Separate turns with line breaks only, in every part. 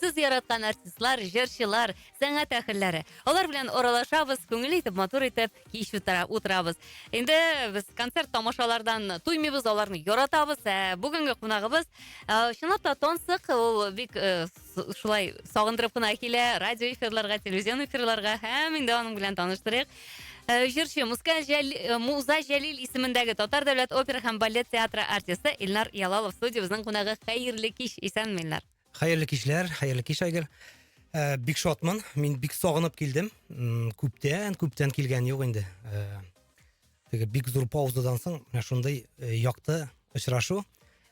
Сез яраткан артистлар, җырчылар, сәнгать әһелләре. Алар белән аралашабыз, күңелле итеп, матур итеп кич утыра, утырабыз. Инде без концерт тамашалардан туймыйбыз, аларны яратабыз. Ә бүгенге кунагыбыз э, чынлап та тансык, ул бик э, с- шулай сагындырып кына килә радио эфирларга, телевизион эфирларга һәм инде аның белән таныштырыйк. Э, Җырчы Муска Жәли- э, Муза Җәлил исемендәге Татар дәүләт опера һәм балет театры артисты Илнар Ялалов студиябезнең кунагы. Хәерле кич, исәнме, Илнар? Хәерле кичләр, хәерле кич Айгер. Э, бик шатмын. Мин бик сагынып килдем. Күптән, күптән килгән юк инде. Э, теге бик зур паузадан соң менә шундый э, якты очрашу.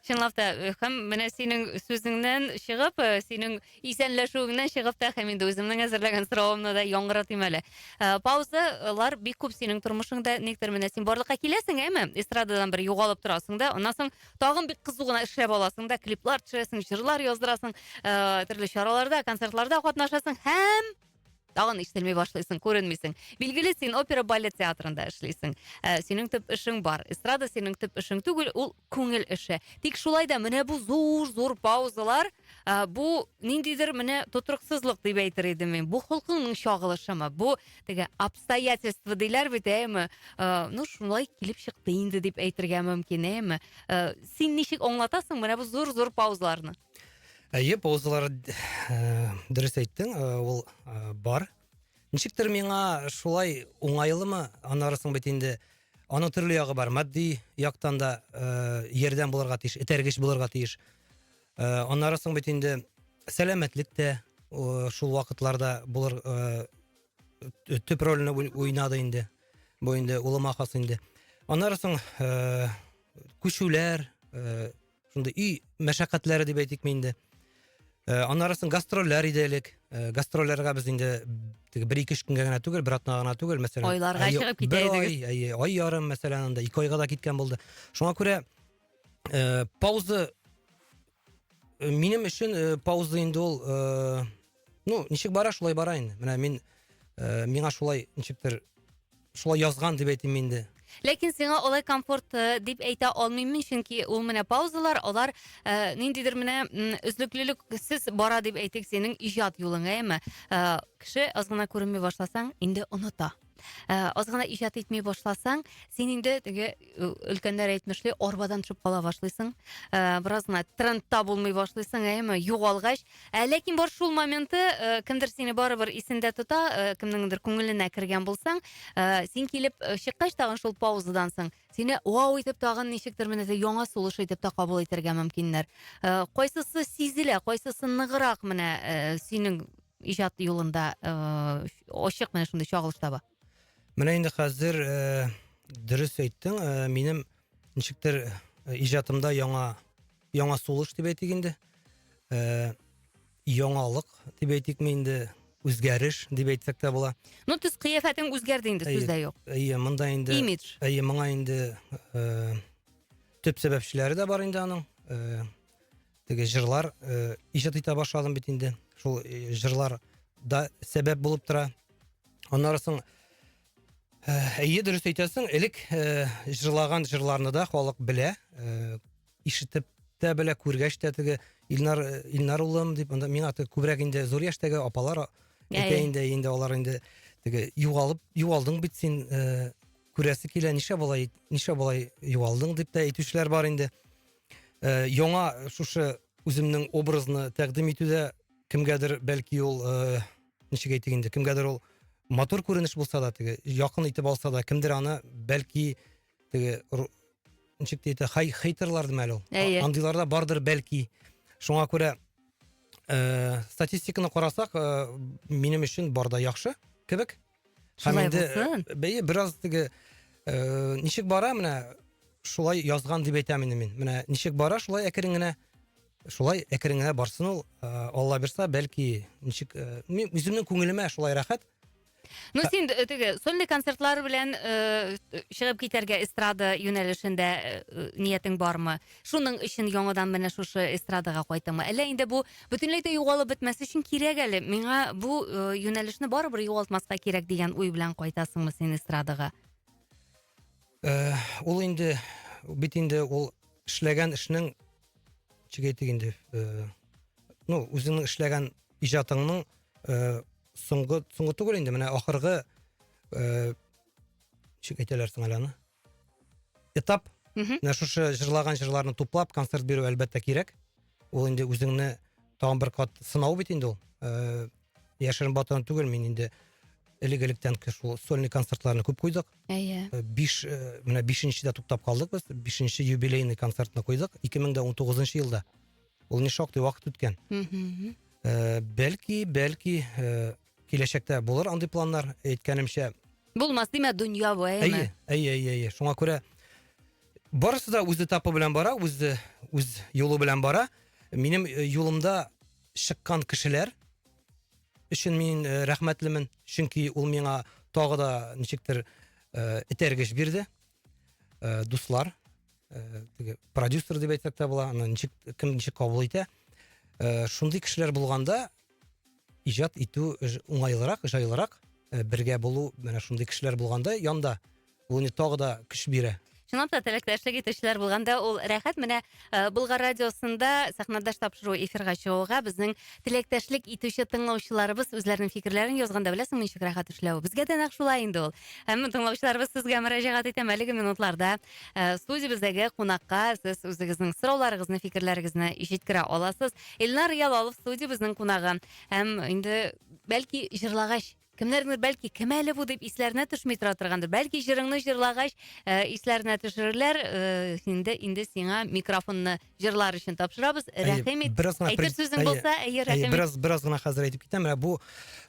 Чынлап та, һәм менә синең сүзеңнән чыгып, синең исәнләшүеңнән чыгып та, һәм инде үземнең әзерләгән соравымны да яңгыратыйм әле. Паузалар бик күп синең тормышыңда, никтер менә син барлыкка киләсең, әме, эстрададан бер югалып торасың да, аннан соң тагын бик кызу гына эшләп аласың да клиплар төшерәсең җырлар яздырасың ыыы түрле чараларда концертларда катнашасың һәм тагын ишетелми башлыйсың күренмисең билгеле син опера балет театрында эшлисең ә синең төп эшең бар эстрада синең төп эшең түгел ул күңел эше тик шулай да менә бу зур зур паузалар ә, бу ниндидер менә тотрыксызлык дип әйтер идем мин бу холкыңның чагылышымы бу теге обстоятельства диләр бит әйеме ә, ну шулай килеп чыкты инде дип әйтергә мөмкин әйеме ә, син ничек аңлатасың менә бу зур зур паузаларны әйе паузалар ә, дөрес әйттең ә, ул ә, бар ничектер миңа шулай уңайлымы аннары соң бит инде аның төрле ягы бар матди яктан да ә, ярдәм булырга тиеш этәргеч булырга тиеш Ыыы аннары соң бит инде сәләмәтлек тә ыыы шул вакытларда булыр ыыы төп рольне уйнады инде бу инде улыма хас инде аннары соң ыыы күчүләр ыыы шундый өй мәшәкатьләре дип әйтикме инде ыыы аннары соң гастрольләр иде элек ыыы гастрольләргә без инде теге бер ике өч көнгә генә түгел бер атнага гына түгел мәсәлән айларга чыгып китә идегез бер ай ай ярым мәсәлән анда ике айга да киткән булды шуңа күрә ә, пауза э, минем өчен ә, э, пауза инде ул ә, ну ничек бара шулай бара инде менә мин ә, миңа шулай ничектер шулай язган дип әйтим инде ләкин сиңа олай комфорт э, дип әйтә алмыйм мин чөнки ул менә паузалар алар ә, ниндидер менә өзлеклелексез бара дип әйтик синең иҗат юлың әйеме ә, кеше аз гына күренми башласаң инде оныта Ә, аз гына иҗат итми башласаң, син инде теге өлкәннәр әйтмешли, арбадан төшеп кала башлыйсың. Ә, бераз гына трендта булмый башлыйсың, әйеме, югалгач. Ә, ләкин бар шул моменты, ә, кемдер сине барыбер исендә тота, ә, кемнеңдер күңеленә кергән булсаң, ә, син килеп э, чыккач тагын шул паузадан соң, сине вау итеп тагын ничектер менә яңа сулыш итеп та кабул итәргә мөмкиннәр. Ә, кайсысы сизелә, кайсысы ныграк менә ә, синең иҗат юлында ыыы ачык менә шундый чагылыш таба менә инде хәзер ыыы дөрес әйттең ыыы минем ничектер иҗатымда яңа яңа сулыш дип әйтик инде ыыы яңалык дип әйтикме инде үзгәреш дип әйтсәк тә була ну төс кыяфәтең үзгәрде инде сүз дә юк әйе монда инде имидж әйе моңа инде ыыы төп сәбәпчеләре дә бар инде аның ыыы теге җырлар э, иҗат итә башладым бит инде. Шул э, җырлар да сәбәп булып тора. Аннары соң э, әйе дөрес әйтәсең, элек э, җырлаган җырларны да халык белә, э, ишетеп тә белә, күргәч тә теге Илнар э, Илнар улым дип, анда миңа аты күбрәк инде зур яшьтәге апалар әйтә Әйе. инде, инде алар инде теге югалып югалдың бит син э, күрәсе килә, ничә болай ничә болай югалдың дип тә әйтүчеләр бар инде. э, яңа шушы үземнең образны тәкъдим итүдә кемгәдер бәлки ул э, ничек әйтик инде кемгәдер ул матур күренеш булса да теге якын итеп алса да кемдер аны бәлки теге ничек дейді хай хейтерлар дим әле ул андыйлар да бардыр бәлки шуңа күрә ә, статистиканы карасак ә, минем өчен барда яхшы кебек Һәм инде бәе бераз теге э, ничек бара менә шулай язган дип әйтәм инде мин. Менә ничек бара шулай әкрен генә шулай әкрен генә барсын ул. Э, Алла бирса, бәлки ничек э, мин үземнең күңелемә шулай рәхәт. Ну син э, теге сольный концертлар белән э, чыгып китәргә эстрада юнәлешендә э, ниятең бармы? Шуның өчен яңадан менә шушы эстрадага кайтамы? Әллә инде бу бөтенләй дә югалып бетмәс өчен кирәк әле. Миңа бу э, юнәлешне барыбер югалтмаска кирәк дигән уй белән кайтасыңмы син эстрадага? Э, ул инде бит инде ул эшләгән эшнең ничек әйтик инде э, ну үзеңнең эшләгән иҗатыңның э, соңгы соңгы түгел инде менә ахыргы э, ничек әйтәләр соң әле аны этап менә шушы җырлаган җырларны туплап концерт бирү әлбәттә кирәк ул инде үзеңне тагын бер кат сынау бит инде ул ыыы яшерен батырын түгел мин инде элек электән шул сольный концертларны күп куйдык әйе э, биш э, менә бишенчедә туктап калдык без бишенче юбилейный концертны куйдык ике мең дә он тугызынчы елда ул не шактый вакыт үткән э, бәлки бәлки киләчәктә булыр андый планнар, әйткәнемчә. Булмас димә, дөнья бу, әйеме? Әйе, әйе, әйе. Шуңа күрә барысы да үз этапы белән бара, үз үз юлы белән бара. Минем э, юлымда чыккан кешеләр өчен мин э, рәхмәтлемен, чөнки ул миңа тагы да ничектер э, итәргеч бирде. ә, дуслар ә, теге продюсер дип әйтсәк тә була аны ничек кем ничек кабул итә ә, шундый кешеләр булганда иҗат итү уңайлырак җайлырак ә, бергә булу менә шундый кешеләр булганда янда ул инде тагы да көч бирә чынлап та теләктәшлек итүчеләр булганда ул рәхәт менә Э, Булгар радиосында сәхнәдәш тапшыру эфирга чыгуга безнең теләктәшлек итүче тыңлаучыларыбыз үзләренең фикерләрен язганда беләсеңме ничек рәхәт эшләве. Безгә дә нәкъ шулай инде ул. Һәм тыңлаучыларыбыз сезгә мөрәҗәгать итәм әлеге минутларда. Э, студиябездәге кунакка сез үзегезнең сорауларыгызны, фикерләрегезне җиткерә аласыз. Илнар Ялалов студиябезнең кунагы. Һәм инде бәлки җырлагач Кемнәрнедер, бәлки, кем әле бу дип исләренә төшми тора торгандыр. Бәлки, җырыңны җырлагач, э, исләренә төшерерләр. Э, инде, инде сиңа микрофонны җырлар өчен тапшырабыз. Әйе, Рәхим ит. бераз гына Әйтер пред- сүзең әйе, булса, әйе, Әйе, рәхим ит. бераз, бераз гына хәзер әйтеп китәм. Менә бу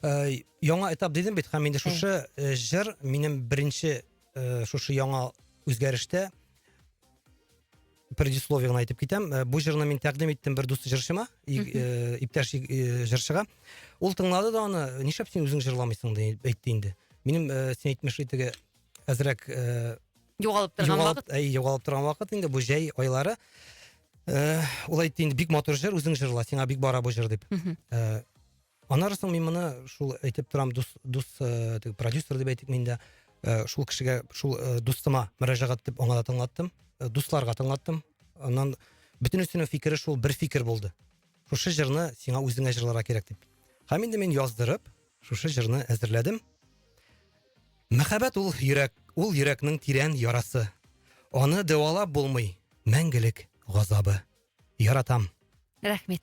э, яңа этап дидем бит, һәм инде шушы э, җыр минем беренче э, шушы яңа үзгәрештә предисловие гына әйтеп китәм э, бу җырны мин тәкъдим иттем бер дус җырчыма э, иптәш э, җырчыга ул тыңлады да аны нишләп син үзең җырламыйсың дип әйтте инде минем син әйтмешли теге әзрәк югалып торган вакыт әй югалып торган вакыт инде бу җәй айлары ул әйтте инде бик матур җыр үзең җырла сиңа бик бара бу җыр дип Аннары соң мин моны шул әйтеп торам, дус дус э, теге продюсер дип әйтик мин дә э, шул кешегә шул э, дустыма мөрәҗәгать итеп аңа да тыңлаттым, э, дусларга тыңлаттым. Аннан бөтенесенең фикере шул бер фикер булды. Шушы җырны сиңа үзеңә җырларга кирәк дип. Һәм инде мин яздырып, шушы җырны әзерләдем. Мәхәббәт ул йөрәк, ул йөрәкнең тирән ярасы. Аны дәвалап булмый мәңгелек газабы. Яратам. Рәхмәт.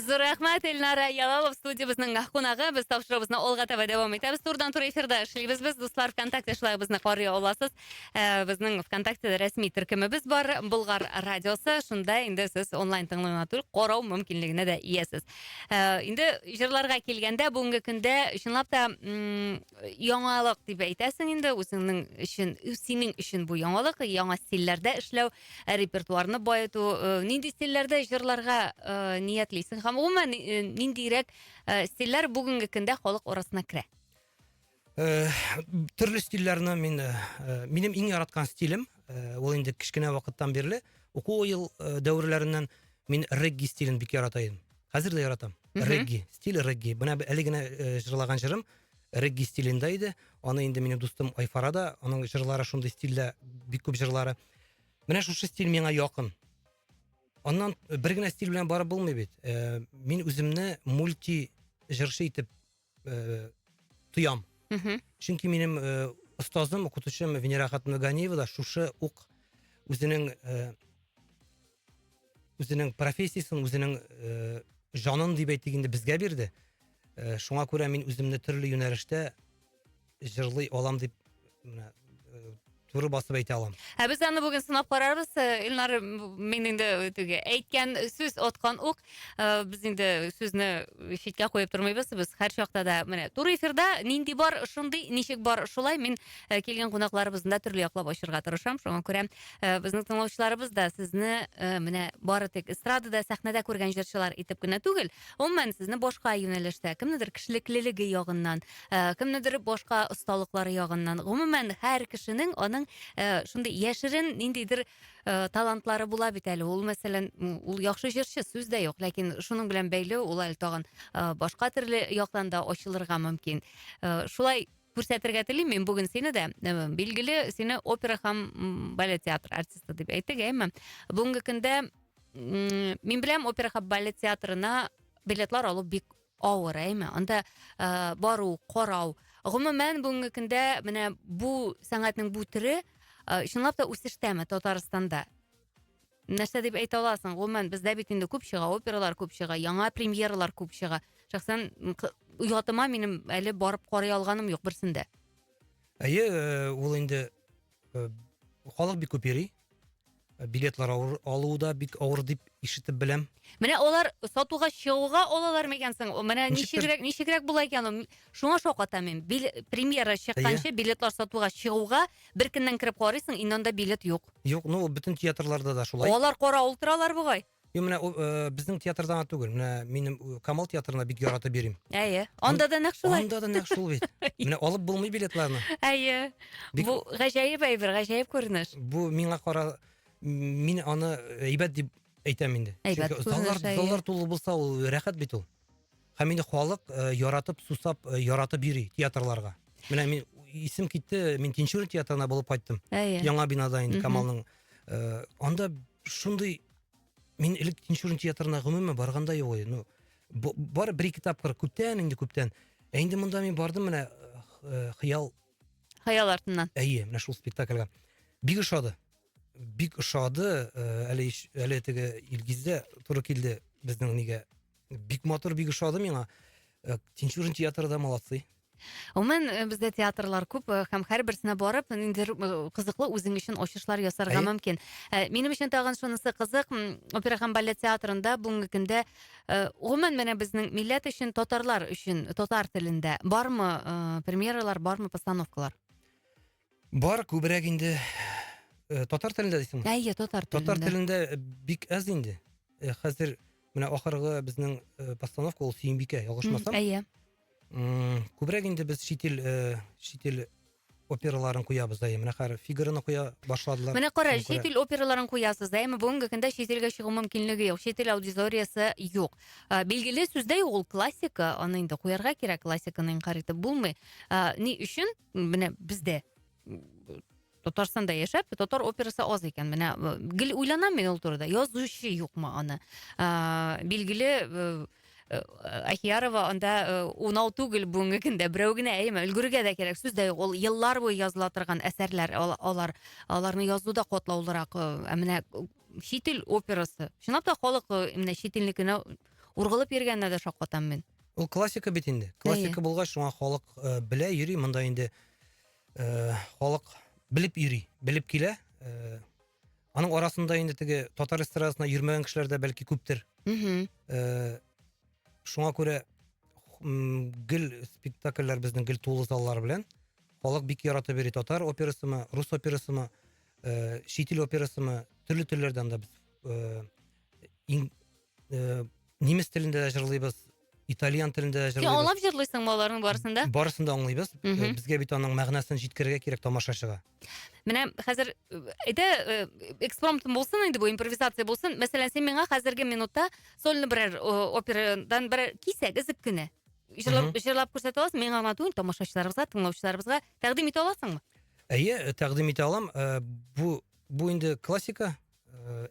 Зур рәхмәт, Эльнара Ялалов, студиябезнең кунагы. Без тапшыруыбызны алга таба дәвам итәбез. Турыдан туры эфирда эшлибез без. Дуслар, ВКонтакте шулай безне карый аласыз. Э, Безнең ВКонтакте рәсми төркемебез бар, Болгар радиосы. Шунда инде сез онлайн тыңлый гына түгел, карау мөмкинлегенә дә иясез. Э, Инде җырларга килгәндә, бүгенге көндә чынлап та м, яңалык дип әйтәсең инде, үзеңнең өчен, синең өчен бу яңалык, яңа стильләрдә эшләү. Ә репертуарны баету, э, нинди стильләрдә җырларга э, ниятлисең? Һәм гомумән э, ниндирәк э, стильләр бүгенге көндә халык арасына керә? Э, төрле стильләрне мин э, э, минем иң яраткан стилем э, ул инде кечкенә вакыттан бирле уку ел э, дәверләреннән мин регги стилен бик ярата идем хәзер дә яратам Мгм. регги стиль регги менә б- әле генә э, җырлаган җырым регги стилендә иде аны инде минем дустым айфара да аның җырлары шундый стильдә бик күп җырлары Менә шушы стиль миңа якын. Аннан бер генә стиль белән барып булмый бит. Э, мин үземне мульти җырчы итеп э, тоям. Чөнки минем э, остазым, укытучым Венера хатыны Ганиева да шушы ук үзенең э, үзенең профессиясен, үзенең э, жанын дип әйтик инде безгә бирде. Э, шуңа күрә мин үземне төрле юнәлештә җырлый алам дип менә э, туры басып әйтә алам. Ә без аны бүген сынап карарбыз. Э, Илнар мин инде теге әйткән сүз откан ук. Э, Без инде сүзне читкә куеп тормыйбыз. Без һәр чакта да менә туры эфирда нинди бар, шундый, ничек бар, шулай мин э, килгән кунакларыбызны да төрле яклап ачырга тырышам. Шуңа күрә э, безнең тыңлаучыларыбыз да сезне э, менә бары тик эстрадада, сәхнәдә күргән җырчылар итеп кенә түгел, гомумән сезне башка юнәлештә, кемнедер кешелеклелеге ягыннан, Э, кемнедер башка осталыклары ягыннан гомумән һәр кешенең аның э, шундый яшерен ниндидер э, талантлары була бит әле ул мәсәлән ул яхшы җырчы сүз дә юк ләкин шуның белән бәйле ул әле тагын башка төрле яктан да ачылырга мөмкин шулай күрсәтергә телим мин бүген сине дә билгеле сине опера һәм балет театры артисты дип әйттек әмма бүгенге көндә мин беләм опера һәм балет театрына билетлар алу бик Авыр, әйме? Анда э, бару, карау. Гомумән, бүгенге көндә менә бу сәнгатьнең бу төре э, чынлап та үсештәме Татарстанда? Нәрсә дип әйтә аласың? Гомумән, бездә бит инде күп чыга, опералар күп чыга, яңа премьералар күп чыга. Шәхсән м, к- оятыма минем әле барып карый алганым юк берсендә. Әйе, э, ул инде э, халык бик күп йөри э, билетлар авыр, алу да бик авыр дип ишетеп беләм менә алар сатуга чыгуга алалармы икән соң менә ничегрәк ничегрәк була икән ул шуңа шаккатам мин Бил, премьера чыкканчы билетлар сатуга чыгуга бер көннән кереп карыйсың инде анда билет юк юк ну бөтен театрларда да шулай алар кара ул торалар бугай Юк, менә ул, э, безнең театрда гына түгел, менә минем э, Камал театрына бик яратып йөрим. Әйе. Анда да нәкъ шулай. Анда да нәкъ шул бит. Менә алып булмый билетларны. Әйе. Бик- Бу гаҗәеп әйбер, гаҗәеп күренеш. Бу миңа кара мин аны әйбәт дип әйтәм инде. Әйбәт Чөнки күренеш, заллар, әйе. заллар тулы булса, ул рәхәт бит ул. Һәм инде халык э, яратып, сусап, э, яратып йөри театрларга. Менә мин исем китте, мин Тинчурин театрына булып кайттым. Әйе. Яңа бинада инде Камалның. Э, анда шундый мин элек Тинчурин театрына гомумән барганда юк иде. Ну, бар бер ике тапкыр күптән инде күптән. Ә инде монда мин бардым менә хыял хыял артыннан. Әйе, менә шул спектакльгә. Бик ошады. бик ошады э, әле әле теге илгиз дә туры килде безнең нигә бик матур бик ошады миңа э, тинчурин театры да молодцы Умен э, бездә театрлар күп э, һәм һәрберсенә барып ниндидер э, кызыклы үзең өчен ачышлар ясарга мөмкин. Минем өчен тагын шунысы кызык, опера һәм балет театрында бүгенге көндә гомумән менә безнең милләт өчен, татарлар өчен татар телендә бармы премьералар, бармы постановкалар? Бар, күбрәк инде э, татар телендә дисеңме? Әйе, татар телендә. Татар телендә э, бик әз инде. Э, хәзер менә ахыргы безнең э, постановка ул Сөембикә, ялгышмасам. Әйе. Күбрәк инде без шитил э, шитил операларын куябыз да менә хәзер фигураны куя башладылар менә кара чит ил операларын куясыз да әмма бүгенге көндә чит илгә чыгу мөмкинлеге юк чит ил аудиториясе юк билгеле сүздә юк ул классика аны инде куярга кирәк классиканы инкарь итеп булмый ни өчен менә бізде Татарстанда яшәп, татар операсы аз икән. Менә э, гел уйланам мин ул турыда. Язучы юкмы аны? Ә, билгеле э, э, Ахиярова анда унау түгел бүгенге көндә берәү генә әйме өлгергә дә кирәк сүз дә юк ул еллар буе языла торган әсәрләр алар аларны язу да катлаулырак ә менә чит ил операсы чынлап та халык менә чит илнекенә ургылып йөргәненә дә шаккатам мин Ул классика бит инде. Классика булгач, шуңа халык э, белә йөри, монда инде э, халык белеп йөри, белеп килә. Э, аның арасында инде теге татар эстрадасына йөрмәгән кешеләр дә бәлки күптер. Мм. Э, шуңа күрә м, гел спектакльләр безнең гел тулы заллар белән. Халык бик яратып йөри татар операсымы, рус операсымы, э, чит ил операсымы, төрле телләрдән дә без э, ин- э, немец телендә дә җырлыйбыз итальян телендә дә җырлыйбыз аңлап җырлыйсың ба аларның барысын да барысын да аңлыйбыз э, безгә бит аның мәгънәсен җиткерергә кирәк тамашачыга менә хәзер әйдә э, э, экспромтом булсын инде бу импровизация булсын мәсәлән сен миңа хәзерге минутта сольный берәр операдан бер кисәк өзек кенә җырлап җырлап күрсәтә аласың миңа гына түгел тамашачыларыбызга тыңлаучыларыбызга тәкъдим итә аласыңмы әйе тәкъдим итә алам бу бу инде классика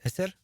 әсәр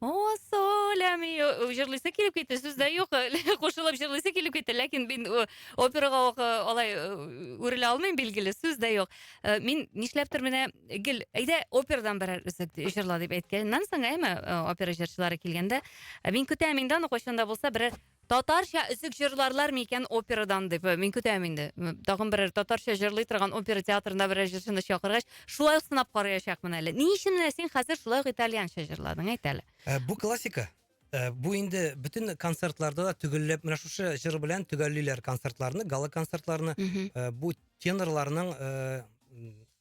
О, солям, и, о, җырлыйсы килеп китте, сүз дә юк, кушылып җырлыйсы килеп китте, ләкин мин о, операга ук, э, алай э, үрелә алмыйм, билгеле, сүз дә юк. Э, Мин нишләптер менә гел, әйдә операдан берәр өзек ди- җырла дип әйткәннән соң, әйме, э, опера җырчылары килгәндә, э, мин көтәм инде аны кайчан да булса берәр Татарча өзек җырларлар микән операдан дип. Мин көтәм инде. Тагын берәр татарча җырлый торган опера театрында берәр җырчыны чакыргач, шулай ук сынап карыячакмын әле. Ни өчен менә син хәзер шулай ук итальянча җырладың, әйт әле. Ә, бу классика. Ә, бу инде бөтен концертларда да төгәлләп менә шушы җыр белән төгәллиләр концертларны, гала-концертларны. Мгм. Ә, бу тенорларның, ә,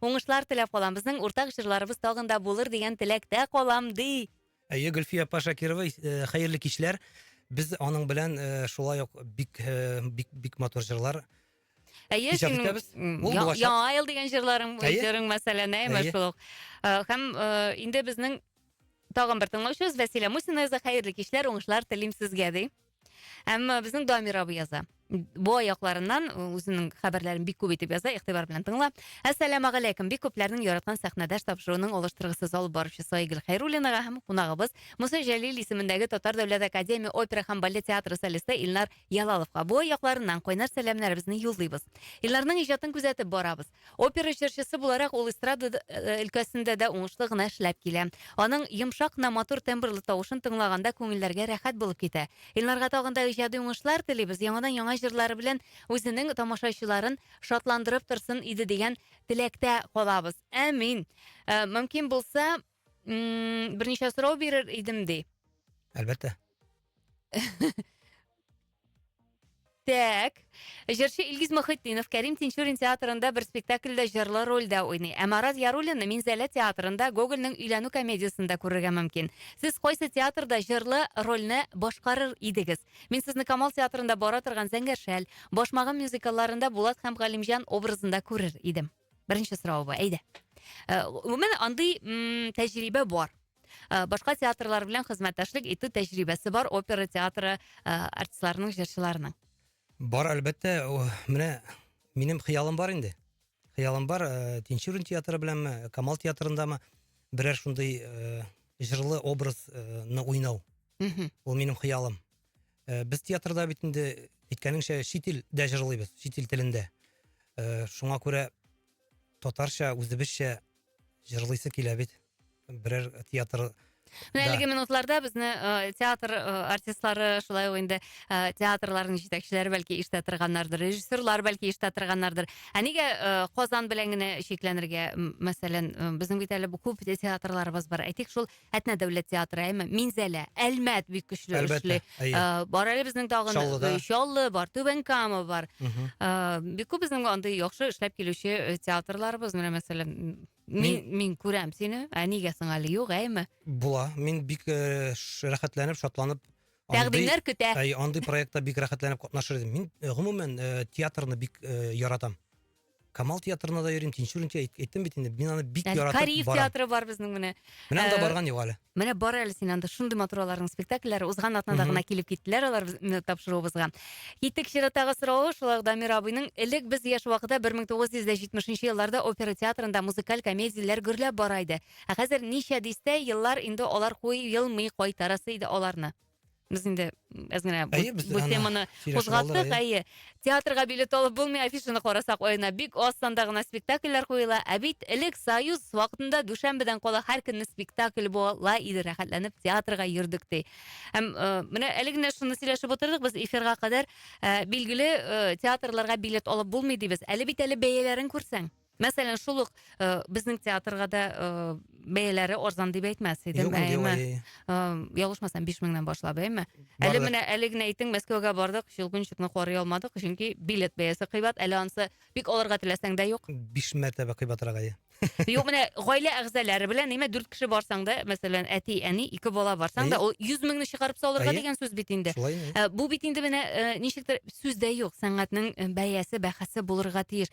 Уңышлар теләп калам. Безнең уртак җырларыбыз тагын да булыр дигән теләктә калам, ди. Әйе, Гөлфия апа Шакирова, э, хәерле кичләр. Без аның белән э, шулай ук бик э, бик бик матур җырлар Әйе, Иҗат синең итәбез. м, Ул я- булачак. яңа ел дигән җырларың, Әйе. җырың мәсәлән, әйме Әйе. шул ук. Э, Һәм э, инде безнең тагын бер тыңлаучыбыз Вәсилә Мусина яза, хәерле кичләр, уңышлар телим сезгә, ди. Әмма безнең Дамир абый яза. Бу аякларыннан үзенең хәбәрләрен бик күп итеп яза, игътибар белән тыңла. Әссәламу алейкум. Бик күпләрнең яраткан сәхнәдәш тапшыруының алыштыргысыз алып баручысы Айгөл Хәйруллинага һәм кунагыбыз Муса Җәлил исемендәге Татар дәүләт академия опера һәм балет театры солисты Илнар Ялаловка бу аякларыннан кайнар сәламнәребезне юллыйбыз. Илнарның иҗатын күзәтеп барабыз. Опера җырчысы буларак ул эстрада э, өлкәсендә дә уңышлы гына эшләп килә. Аның йомшак кына матур тембрлы тавышын тыңлаганда күңелләргә рәхәт булып китә. Илнарга тагын да иҗади уңышлар телибез. Яңадан яңа җырлары белән үзенең тамашачыларын шатландырып торсын иде дигән теләктә калабыз. Әмин. Э, мөмкин булса, берничә сорау бирер идем ди. Әлбәттә. Так. Җырчы Илгиз Мөхетдинов Кәрим Тинчурин театрында бер спектакльдә җырлы рольдә уйный. Ә Марат Яруллинны Минзәлә театрында Гогольнең өйләнү комедиясендә күрергә мөмкин. Сез кайсы театрда җырлы рольне башкарыр идегез? Мин сезне Камал театрында бара торган Зәңгәр шәл, Башмагым мюзикалларында Булат һәм Галимҗан образында күрер идем. Беренче сорау бу. Әйдә. Э, Гомумән андый тәҗрибә бар. Э, башка театрлар белән хезмәттәшлек итү тәҗрибәсе бар опера театры э, артистларының җырчыларының бар әлбәттә менә минем хыялым бар инде хыялым бар э, тинчурин театры беләнме камал театрындамы берәр шундый җырлы образны уйнау ул минем хыялым без театрда бит инде әйткәнеңчә чит илдә җырлыйбыз чит ил телендә шуңа күрә татарча үзебезчә Җырлыйсы килә бит. Берәр театр Менә әлеге минутларда безне э, театр э, артистлары, шулай ук инде э, театрларның җитәкчеләре бәлки ишетә торганнардыр, режиссерлар бәлки ишетә торганнардыр. Ә нигә э, Казан белән генә чикләнергә, м, мәсәлән, э, безнең бит әле бу күп театрларыбыз бар. Әйтик, шул Әтнә дәүләт театры, әйме, Минзәлә, Әлмәт бик көчле эшли. Э, бар әле безнең тагын э, Чаллы бар, Түбән Кама бар. Э, бик күп безнең андый яхшы эшләп килүче театрларыбыз, менә мәсәлән, мин мин күрәм сине, ә нигә соң әле юк, әйме? Була. Мин бик рәхәтләнеп, шатланып Тәкъдимнәр көтә. Әй, андый проектта бик рәхәтләнеп катнашыр идем. Мин гомумән театрны бик яратам. Камал театрына да йөрим, Тинчурин театры әйттем бит инде. Мин аны бик Әле яратып Кариев барам. театры бар безнең менә. Менә анда Э, барган юк әле. Менә бар әле син анда шундый матур аларның спектакльләре. Узган атнада Мгм. гына килеп киттеләр алар безне тапшыруыбызга. Киттек чираттагы сорау, шулай ук Дамир абыйның элек без яшь вакытта 1970 елларда опера театрында музыкаль комедияләр гөрләп бара иде. Ә хәзер ничә дистә еллар инде алар куелмый кайтарасы иде аларны. Без инде әз генә бу, әйе, бу теманы кузгаттык, әйе. Театрга билет алып булмый, афишаны карасак, аена бик аз санда гына спектакльләр куела. Ә бит элек Союз вакытында дүшәмбедән кала һәр көнне спектакль була иде, рәхәтләнеп театрга йөрдек ди. Һәм э, менә әле генә шуны сөйләшеп утырдык, без эфирга кадәр э, билгеле э, театрларга билет алып булмый дибез. Әле бит әле бәяләрен күрсәң. Мәсәлән, шул ук э, безнең театрга да э, бәяләре арзан дип әйтмәс идем, Юк, юк, әйме? әй. Э, Ялгышмасам, 5 меңнән башлап, әйме? Әле Бардык. менә әле генә әйтең, Мәскәүгә бардык, Щелкунчикны карый алмадык, чөнки билет бәясе кыйбат, әле ансы бик алырга теләсәң дә юк. Биш мәртәбә кыйбатрак әйе. Юк, менә гаилә әгъзалары белән, әйме, 4 кеше барсаң да, мәсәлән, әти, әни, ике бала барсаң да, Әйе. ул 100 меңне чыгарып салырга Әйе. дигән сүз бит инде. Шулай инде. Ә, Бу бит инде менә э, ничектер сүз дә юк, сәнгатьнең э, бәясе, бәхәсе булырга тиеш.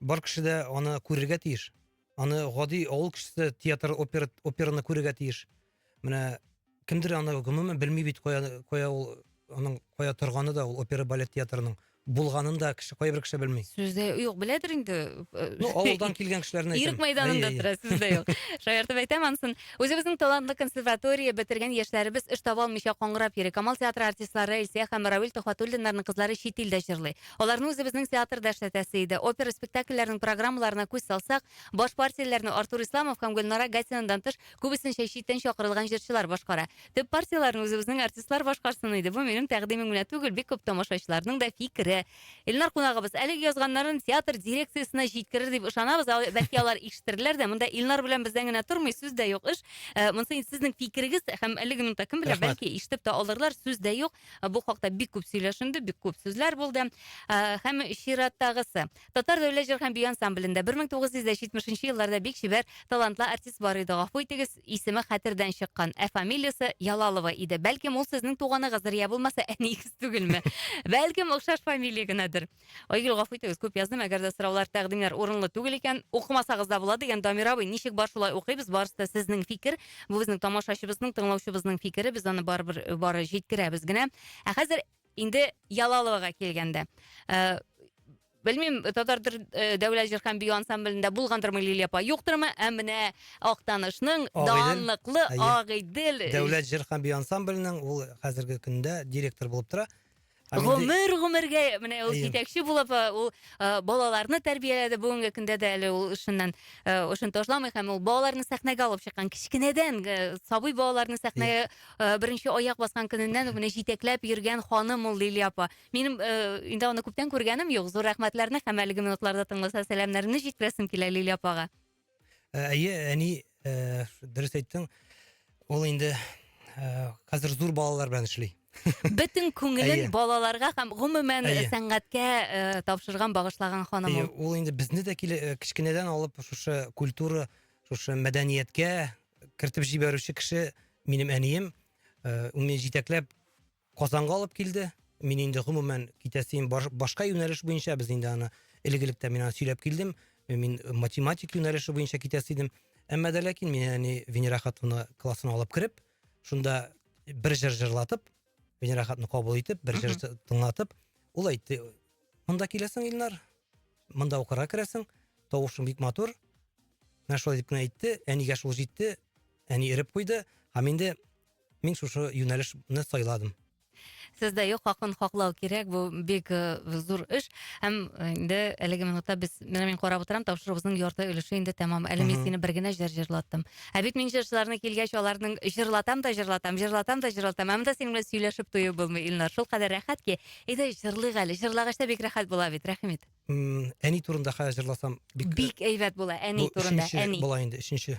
Бар кеше дә аны күрергә тиеш. Аны гади авыл кешесе театр, опера, операны күрергә тиеш. Менә кемдер аны гомумән белми бит кая кая ул аның кая торганы да ул опера балет театрының булганын да кеше кайбер кеше белми. Сүздә юк, беләдер инде. Э, ну, авылдан килгән кешеләрне әйтәм. Ирек мәйданында тора, сүздә юк. Шаяртып әйтәм ансын. Үзебезнең талантлы консерватория бетергән яшьләребез эш таба алмыйча каңгырап йөри. Камал театры артистлары Илсия һәм Равил Тохватуллиннарның кызлары чит илдә җырлый. Аларны үзебезнең театрда эшләтәсе иде. Опера спектакльләренең программаларына күз салсак, баш партияләрне Артур Исламов һәм Гөлнара Гатинадан тыш, күбесенчә читтән чакырылган җырчылар башкара. Төп партияләрне үзебезнең артистлар башкарсын иде. Бу минем тәкъдимем генә түгел, бик күп тамашачыларның да фикере. Илнар кунагыбыз, әлеге язганнарын театр дирекциясенә җиткерер дип ышанабыз. Ал- Бәлки алар ишетерләр дә. Монда Илнар белән бездән генә тормый, сүз дә юк эш. Э, Монысы инде сезнең фикерегез һәм әлеге минутта кем белә, Рәхмәт. бәлки ишетеп тә алырлар, сүз дә юк. Бу хакта бик күп сөйләшенде, бик күп сүзләр булды. Һәм чираттагысы. Татар дәүләт җыр һәм бию ансамблендә 1970 елларда бик чибәр, талантлы артист бар иде. Гафу итегез, исеме хәтердән чыккан. Ә фамилиясе Ялалова иде. Бәлки, ул сезнең туганыгыздыр, я булмаса, әниегез түгелме? Бәлки, охшаш фамилия генәдер. Айгөл гафу итегез, күп яздым, әгәр дә сораулар, тәкъдимнәр урынлы түгел икән, укымасагыз да була, дигән Дамир абый, ничек бар шулай укыйбыз, барысы да сезнең фикер, бу безнең тамашачыбызның, тыңлаучыбызның фикере, без аны барыбер э, бары җиткерәбез генә. Ә хәзер инде Ялаловага килгәндә. Э, Белмим, татар төр- э, дәүләт җыр һәм бию ансамблендә булгандырмы Лилия апа, юктырмы, ә менә Актанышның Агыйдел, данлыклы әйе. Агыйдел э, Дәүләт җыр һәм бию ансамбленең ул хәзерге көндә директор булып тора. Гомер гомергә менә ул җитәкче булып ул балаларны тәрбияләде. Бүгенге көндә дә әле ул эшеннән эшен ташламый һәм ул балаларны сәхнәгә алып чыккан. Кечкенәдән сабый балаларны сәхнәгә беренче аяк баскан көненнән үк менә җитәкләп йөргән ханым ул Лилия апа. Минем инде аны күптән күргәнем юк. Зур рәхмәтләрне һәм әлеге минутларда тыңласа сәламнәрне җиткерәсем килә Лилия апага. әйе әни ә, дөрес әйттең ул инде ә, хәзер зур балалар белән эшли бөтен күңелен балаларга һәм гомумән сәнгатькә ә, тапшырган багышлаган ханым ул ул инде безне дә э, кечкенәдән алып шушы культура шушы мәдәнияткә кертеп җибәрүче кеше минем әнием ә, ул мине җитәкләп Казанга алып килде. Мин инде гомумән китәсем башка юнәлеш буенча без инде аны элек электә мин аны сөйләп килдем. Мин математик юнәлеше буенча китәсе идем. Әмма дә ләкин мин әни Венера хатуны классына алып кереп, шунда бер җыр җырлатып, Венера хатуны кабул итеп, бер җыр тыңлатып, ул әйтте, монда киләсең, Илнар, монда укырга керәсең, тавышың бик матур. Менә шулай дип кенә әйтте, әнигә шул җитте, әни эреп куйды. Һәм инде мин шушы юнәлешне сайладым сез дә юк хакын хаклау кирәк бу бик э, зур эш һәм э, инде әлеге минутта без менә мин карап утырам тапшыруыбызның ярты өлеше инде тәмам әле мин сине бер генә җыр җырлаттым ә бит мин җырчыларны килгәч аларның җырлатам да җырлатам җырлатам да җырлатам ә монда синең белән сөйләшеп туеп булмый илнар шул кадәр рәхәт ки әйдә җырлыйк әле җырлагач та бик рәхәт була бит рәхим ит М, әни турында хәзер җырласам бик бик әйбәт була әни бу турында үшенче әни була инде өченче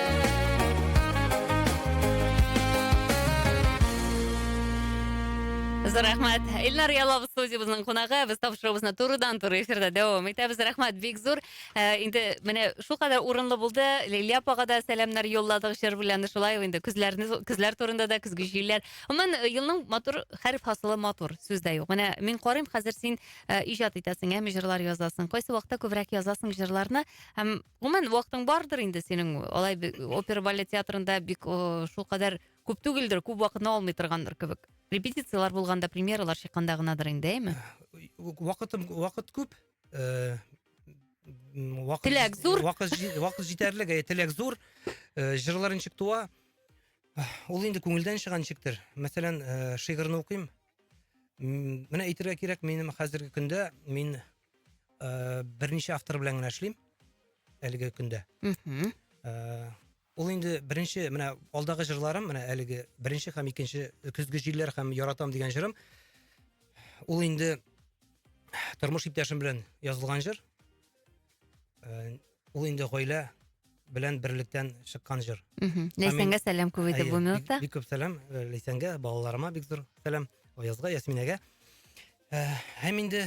Зур рәхмәт. Илнар Ялов студиябезнең кунагы. Без тапшыруыбызны турыдан туры эфирда дәвам итәбез. Рәхмәт бик зур. Ә, инде менә шул кадәр урынлы булды. Лилия апага да сәламнәр юлладык җыр белән. Шулай ук инде көзләрне көзләр турында да көзге җилләр. Гомумән э, елның матур хәреф хасылы матур сүз дә юк. Менә мин карыйм хәзер син э, иҗат итәсең, әм җырлар язасың. Кайсы вакытта күбрәк язасың җырларны һәм гомумән вакытың бардыр инде синең алай опера балет театрында бик ыыы шулкадәр күп түгелдер күп вакытны алмый торгандыр кебек репетициялар болғанда премьералар шыққанда гынадыр инде әй ме вакытым вакыт күп ыыы э, теләк зур вакыт жетерлік э, теләк зур э, жырлар ничек туа ул инде күңелдән чыга ничектер мәсәлән шигырьне укыйм менә әйтергә кирәк минем хәзерге көндә мин ә, берничә автор белән генә эшлим әлеге көндә мхм ә, ул инде беренче менә алдагы жырларым менә әлеге беренче һәм икенче көзге җилләр һәм яратам дигән жырым ул инде тормыш иптәшем белән язылган жыр ә, ул инде гаилә белән берлектән чыккан җыр. Ләйсәнгә сәлам күп иде бу минутта. Бик күп сәлам э, Ләйсәнгә, балаларыма бик зур сәлам, Аязга, Ясминәгә. Э, һәм инде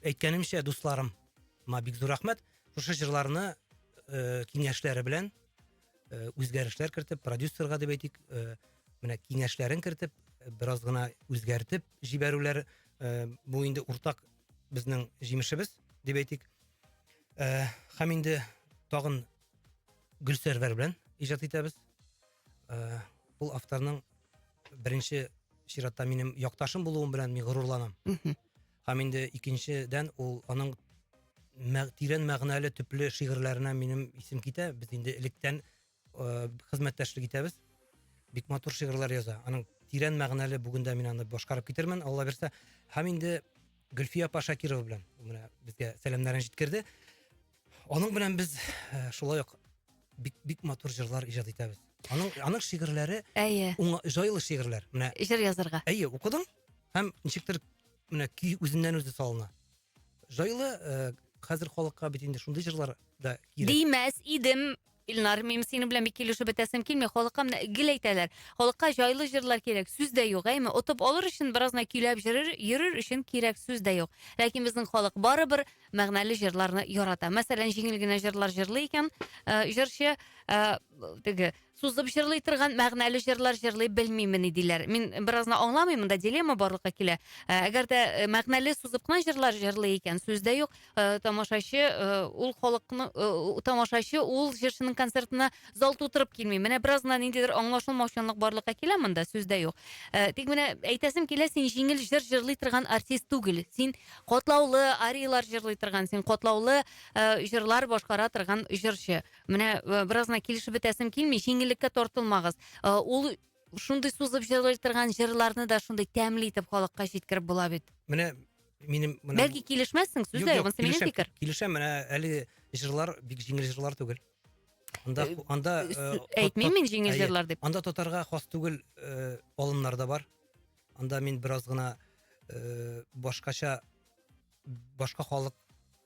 әйткәнемчә, дусларым, ма бик зур рәхмәт. Шушы җырларны э, киңәшләре белән үзгәрешләр кертеп, продюсерга дип әйтик, менә киңәшләрен кертеп, бераз гына үзгәртеп җибәрүләр бу инде уртак безнең җимешебез дип әйтик. Ә, һәм инде тагын Гөлсәрвәр белән иҗат итәбез. Ә, ул авторның беренче чиратта минем якташым булуым белән мин горурланам. Һәм инде икенчедән ул аның тирән мәгънәле төпле шигырьләренә минем исем китә. Без инде электән ыыы хезмәттәшлек итәбез бик матур шигырьләр яза аның тирән мәгънәле бүген дә мин аны башкарып китермен алла бирса һәм инде гөлфия апа шакирова белән ул менә безгә сәламнәрен җиткерде аның белән без ә, шулай ук бик бик матур җырлар иҗат итәбез аның аның шигырьләре әйе уңа, җайлы шигырьләр менә жыр язарга әйе укыдың һәм ничектер менә көй үзеннән үзе салына Җайлы э, хәзер халыкка бит инде шундый җырлар да кирәк. Димәс идем, Илнар, мин синең белән бик килешеп бетәсем килми. Халыкка менә гел әйтәләр. Халыкка җайлы җырлар кирәк, сүз дә юк, әйме. Отып алыр өчен беразна көйләп җырыр, йөрер өчен кирәк сүз дә юк. Ләкин безнең халык барыбер мәгънәле җырларны ярата. Мәсәлән, җиңел генә җырлар җырлый икән, э, җырчы э, теге Сузып җырлый торган мәгънәле җырлар җырлый белмимени диләр. Мин беразны аңламыйм, монда дилемма барлыкка килә. Ә, Әгәр дә э, мәгънәле сузып кына җырлар җырлый икән, сүз дә юк, э, тамашачы э, ул халыкны э, тамашачы ул җырчының концертына зал тутырып килми. Менә беразна ниндидер аңлашылмаучанлык барлыкка килә монда, сүз дә юк. Э, Тик менә әйтәсем килә, син җиңел җыр җырлый торган артист түгел. Син катлаулы ариялар җырлый торган, син катлаулы э, җырлар башкара торган җырчы. Менә э, беразына килешеп бетәсем килми, җиңеллеккә тартылмагыз. Э, ул шундый сузып җырлый торган җырларны да шундый тәмле итеп халыкка җиткереп була бит. Менә минем менә Бәлки килешмәссең, сүз дә юк, минем фикер. Килешәм, менә әле җырлар бик җиңел җырлар түгел. Анда э, анда әйтмим мин җиңел җырлар дип. Анда татарга хас түгел алымнар да бар. Анда мин бераз гына башкача башка халык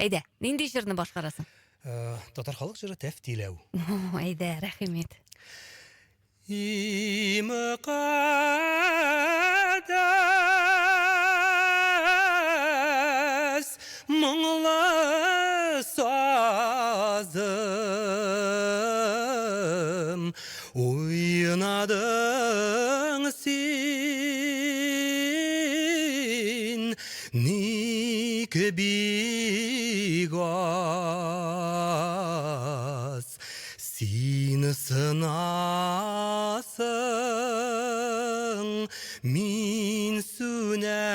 Әйдә, нинди җырны башкарасың? Э, татар халык җыры Тәфтиләү. Әйдә, рәхимет. И мөкаддәс моңлы сазым Уйнадың син ник бик аз, Син сынасың, мин сүнәмен.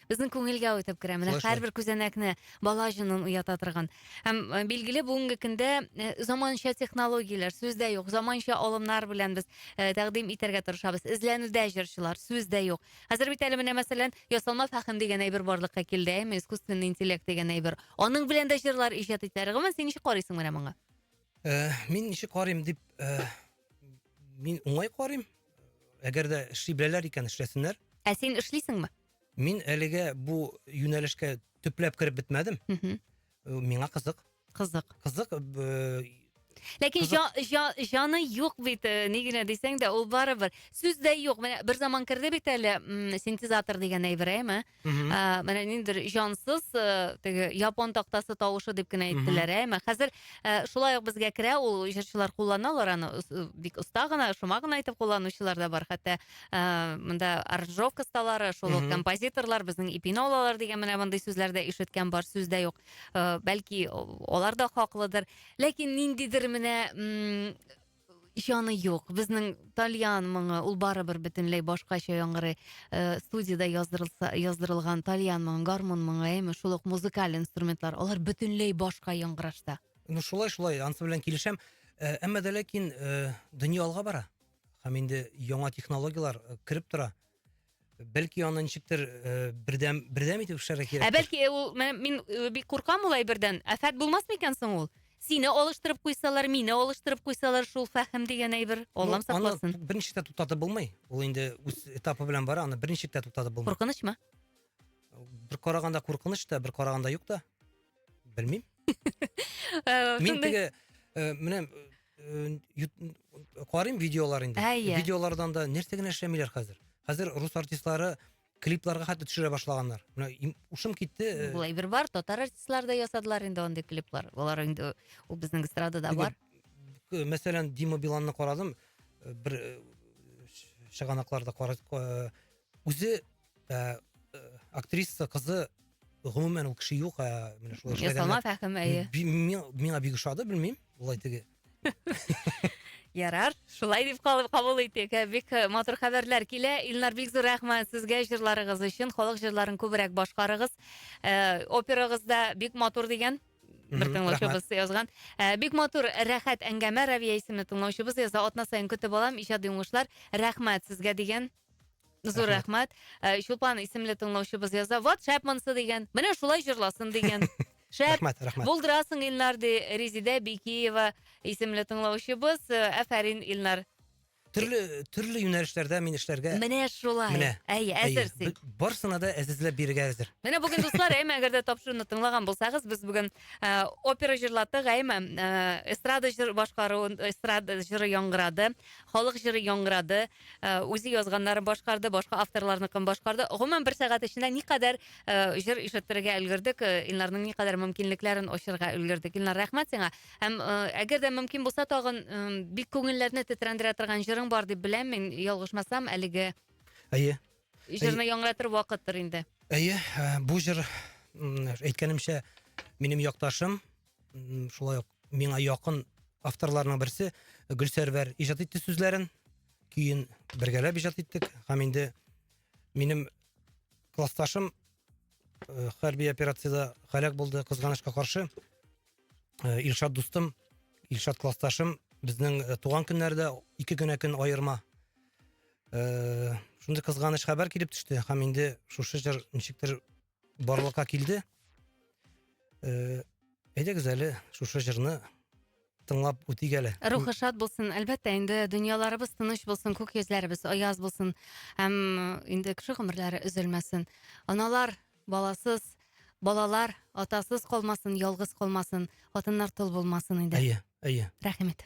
Безнең күңелгә үтеп керә. Менә Шулай, һәрбер күзәнәкне бала җынын уята торган. Һәм э, билгеле бүгенге көндә э, заманча технологияләр сүз дә юк. Заманча алымнар белән без э, тәкъдим итәргә тырышабыз. Эзләнүдә җырчылар сүз дә юк. Хәзер бит әле менә мәсәлән, ясалма фәһем дигән әйбер барлыкка килде, әйме, искусственный интеллект дигән әйбер. Аның белән дә җырлар иҗат итәр. Гомумән син ничек карыйсың менә моңа? Э, мин ничек карыйм дип э, мин уңай карыйм әгәр дә эшли беләләр икән эшләсеннәр ә син эшлисеңме Мин әлегә бу юнәлешкә төпләп кереп бетмәдем. Э, миңа кызык. Кызык. Кызык. Э, Ләкин җаны юк бит, э, ни генә дисәң дә, ул барыбер. Сүз дә юк. Менә бер заман керде бит әле синтезатор дигән әйбер, әйме? Ә, менә ниндер җансыз теге япон тактасы тавышы дип кенә әйттеләр, әйме? Хәзер шулай ук безгә керә, ул җырчылар кулланалар аны бик оста гына, шома гына итеп кулланучылар да бар, хәтта Ә, монда Оржовка сталары, шул ук композиторлар, безнең ипине алалар дигән менә мондый сүзләр дә ишеткән бар, сүз дә юк. Э, Бәлки алар да хаклыдыр. Ләкин ниндидер менә м, җаны юк. Безнең тальян моңы, ул барыбер бөтенләй башкача яңгырый. Э, Студиядә яздырылса, яздырылган тальян моңы, гармун моңы, әйме, шул ук музыкаль инструментлар, алар бөтенләй башка яңгырашта. Ну шулай шулай, ансы белән килешәм. Ә, Әмма дә ләкин э, дөнья алга бара. һәм инде яңа технологияләр э, кереп тора бәлки аны ничектер э, бердәм бердәм итеп эшләргә кирәк ә бәлки э, ул мин бик куркам ул әйбердән афәт булмасмы икән соң ул сине алыштырып куйсалар мине алыштырып куйсалар шул фәһем дигән әйбер аллам сакласын аны берничек тә туктатып булмый ул инде үз этапы белән бара аны берничек тә туктатып булмый куркынычмы бер караганда куркыныч та бер караганда юк та Белмим. Э, Мин теге э, менә э, карыйм видеолар инде. Видеолардан да нәрсә генә эшләмиләр хәзер. Хәзер рус артистлары клипларга хәтта төшерә башлаганнар. Менә ушым китте. Э, Булай бер бар, татар артистлары да ясадылар инде андый клиплар. Алар инде ул безнең эстрадада бар. Э, мәсәлән, Дима Биланны карадым, э, бер чыганакларда карадым. Үзе ә, актриса кызы гомумән ул кеше юк, ә менә шулай эшләгән. Ясалма фәһем әйе. Миңа бик ошады, белмим, улай теге. Ярар, шулай дип калып кабул итик. Ә, бик э, матур хәбәрләр килә. Илнар бик зур рәхмәт сезгә җырларыгыз өчен. Халык җырларын күбрәк башкарыгыз. Э, операгыз да бик матур дигән бер тыңлаучыбыз язган. Э, бик матур, рәхәт әңгәмә Равия исемле тыңлаучыбыз яза. Атна саен көтеп алам иҗади уңышлар. Рәхмәт сезгә дигән. Зур рәхмәт. Э, Чулпан исемле тыңлаучыбыз яза. Вот шәп монсы дигән. Менә шулай җырласын дигән. Шәп. Рәхмәт, рәхмәт. Булдырасың Илнар ди Резидә Бикиева исемле тыңлаучыбыз. Э, Әфәрин Илнар. Төрле төрле юнәлешләрдә мин эшләргә Менә шулай. Менә. Әй, әзер әйе, син. б- барысына да әзизләп бирергә әзер. Менә бүген дуслар, әйме, әгәр дә тапшыруны тыңлаган булсагыз, без бүген э, опера җырлаттык, әйме, э, эстрада җыр башкару, эстрада җыры яңгырады, халык җыры яңгырады, Э, үзе язганнарын башкарды башка авторларныкын башкарды гомумән бер сәгать эчендә никадәр э, җыр ишеттерергә өлгердек э, илнарның никадәр мөмкинлекләрен ачырга өлгердек илнар рәхмәт сиңа һәм әгәр дә мөмкин булса тагын бик күңелләрне тетрәндерә торган җырың бар дип беләм мин ялгышмасам әлеге әйе җырны яңгыратыр вакыттыр инде әйе бу җыр әйткәнемчә минем якташым шулай ук миңа якын авторларның берсе гөлсәрвәр иҗат итте сүзләрен көен бергәләп иҗат иттек һәм инде минем классташым э, хәрби операциядә һәлак булды кызганычка каршы э, илшат дустым илшат классташым безнең э, туган көннәрдә ике генә көн аерма шундый кызганыч хәбәр килеп төште һәм инде шушы җыр ничектер барлыкка килде. Э, әйдәгез әле шушы җырны тыңлап үтик әле. Рухы шат булсын. Әлбәттә, инде дөньяларыбыз тыныч булсын, күк йөзләребез аяз булсын. Һәм инде кеше гомерләре өзелмәсен. Аналар баласыз, балалар атасыз калмасын, ялгыз калмасын, хатыннар тол булмасын инде. Әйе, әйе. Рәхмәт.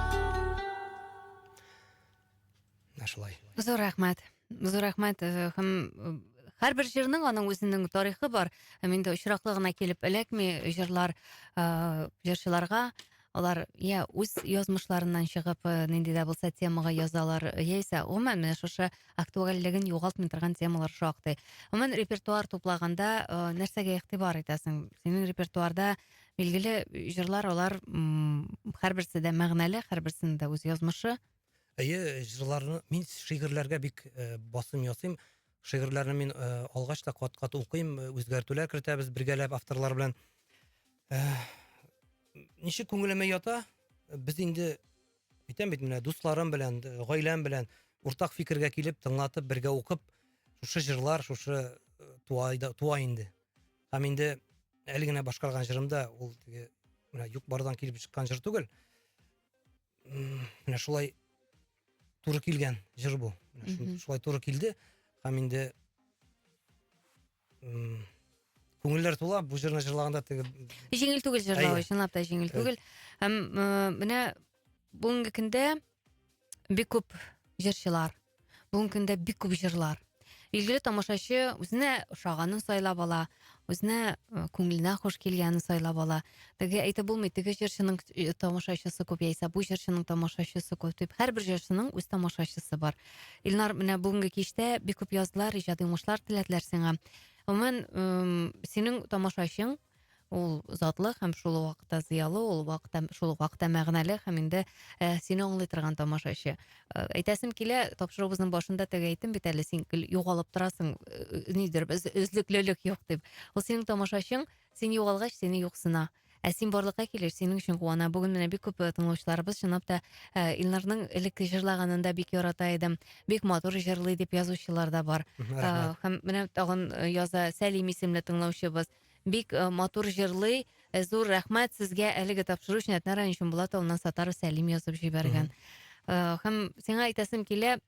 менә шулай зур рәхмәт зур рәхмәт һәм һәрбер җырның аның үзенең тарихы бар һәм инде очраклы гына килеп эләкми җырлар җырчыларга алар я үз язмышларыннан чыгып нинди дә булса темага язалар яисә гомумән менә шушы актуальлеген югалтмый торган темалар шактый гомумән репертуар туплаганда нәрсәгә игътибар итәсең синең репертуарда Билгеле, җырлар алар һәрберсе дә мәгънәле, һәрберсенең дә үз язмышы. Әйе, җырларны мин шигырьләргә бик э, басым ясыйм. Шигырьләрне мин э, алгач та кат-кат укыйм, э, үзгәртүләр кертәбез бергәләп авторлар белән. Ничек күңелемә ята? Без инде әйтәм бит менә дусларым белән, гаиләм белән уртак фикергә килеп, тыңлатып, бергә укып, шушы җырлар, шушы туа, туа инде. Һәм инде әле генә башкарган җырым да ул теге менә юк-бардан килеп чыккан җыр түгел. Менә шулай туры килгән җыр бу. Шулай туры килде һәм инде күңелләр тула бу җырны җырлаганда теге җиңел түгел җырлау чынлап та җиңел түгел һәм менә бүгенге көндә бик күп җырчылар бүгенге көндә бик күп җырлар билгеле тамашачы үзенә ошаганын сайлап ала үзенә ы күңеленә хуш килгәнін сайлап ала теге әйтеп булмый теге җырчының тамашачысы көп яисә бу җырчының тамашачысы көп дип һәрбір җырчының үз тамашачысы бар илнар менә бүгінгі киштә бик күп яздылар иҗади уңышлар теләделәр сиңа гомумән синең тамашачың ул затлы һәм шул ук вакытта зыялы ул вакытта шул ук вакытта мәгънәле һәм инде і сені аңлый торган тамашачы і әйтәсем килә тапшыруыбызның башында теге әйттем бит әле син гел югалып торасың і нидер без өзлеклелек юк дип ул синең тамашачың син югалгач сине юксына ә син барлыкка килеш синең өчен куана бүген менә бик күп тыңлаучыларыбыз чынлап та і илнарның элекке җырлаганын да бик ярата идем бик матур җырлый дип язучылар да бар һәм менә тагын яза сәлим исемле тыңлаучыбыз Бик э, матур җырлый. Э, Зур рәхмәт сезгә әлеге тапшыру өчен Әтнә районы Чумбулат авылыннан Сатаров Сәлим язып җибәргән. Э, Һәм сиңа әйтәсем килә,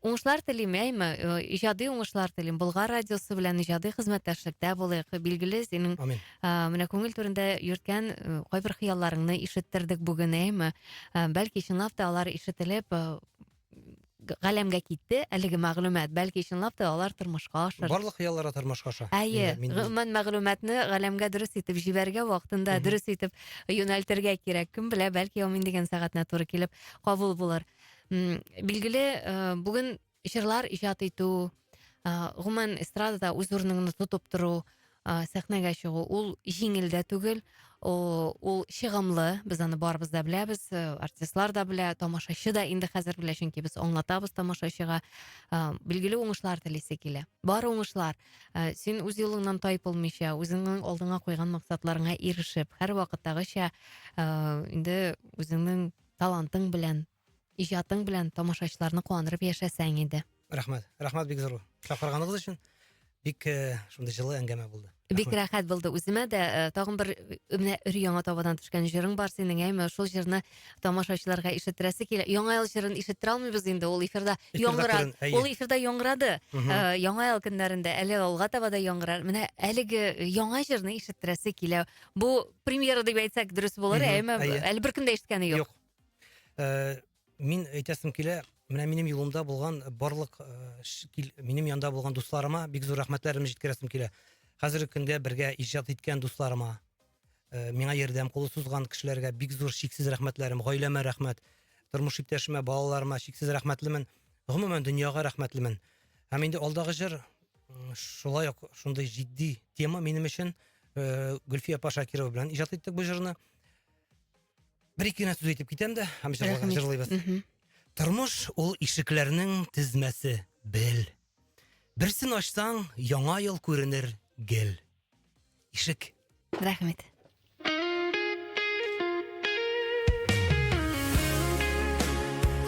уңышлар телим, әйме, э, иҗади уңышлар телим. Болгар радиосы белән иҗади хезмәттәшлектә булыйк. Билгеле, синең Амин. Ә, менә күңел түрендә йөрткән э, кайбер хыялларыңны ишеттердек бүген, әйме? Ә, Бәлки чынлап та алар ишетелеп, э, галәмгә китте әлеге мәгълүмат. Бәлки чынлап та алар тормышка ашыр. Барлык хыяллары тормышка аша. Әйе, гомумән мәгълүматны галәмгә дөрес итеп җибәрергә вакытында дөрес итеп юнәлтергә кирәк. Кем белә, бәлки ул мин дигән сәгатенә туры килеп кабул булыр. Билгеле, э, бүген җырлар иҗат итү, э, гомумән эстрадада үз урыныңны тотып тору, Ә, сәхнәгә чыгу ул җиңел дә түгел, ул чыгымлы, без аны барыбыз да беләбез, э, артистлар да белә, тамашачы да инде хәзер белә, чөнки без аңлатабыз тамашачыга. Ә, билгеле уңышлар телисе килә. Бар уңышлар, ә, син үз юлыңнан тайпылмыйча, үзеңнең алдыңа куйган максатларыңа ирешеп, һәрвакыттагыча, ә, инде үзеңнең талантың белән, Иҗатың белән тамашачыларны куандырып яшәсәң иде. Рәхмәт. Рәхмәт бик зур. Чакырганыгыз өчен бик э, шундый җылы әңгәмә булды. Бик рәхәт булды үземә дә. Э, тагын бер э, менә өр яңа табадан төшкән җырың бар синең, әйме? Шул җырны тамашачыларга ишеттерәсе килә. Яңа ел җырын ишеттерә алмыйбыз инде, ул эфирда яңгырады. Ул эфирда яңгырады. Яңа ел көннәрендә әле алга таба да яңгырар. Менә әлеге яңа җырны ишеттерәсе килә. Бу премьера дип әйтсәк дөрес булыр, әйме? Әле беркем дә ишеткәне юк. Э, мин әйтәсем килә, менә минем юлымда булган барлык э, минем янда булган дусларыма бик зур рәхмәтләремне җиткерәсем килә. Хәзерге көндә бергә иҗат иткән дусларыма, э, миңа ярдәм кулы сузган кешеләргә бик зур чиксез рәхмәтләрем, гаиләмә рәхмәт, тормыш иптәшемә, балаларыма чиксез рәхмәтлемен. Гомумән дөньяга рәхмәтлемен. Һәм инде алдагы җыр шулай ук шундый җитди тема минем өчен. Гөлфия Пашакирова белән иҗат иттек бу җырны. Бер ике генә сүз әйтеп китәм дә, һәм җырлыйбыз. Тормыш ул ишекләрнең тезмәсе, бел. Берсен ачсаң, яңа ел күренер гел. Ишек. Рәхмәт.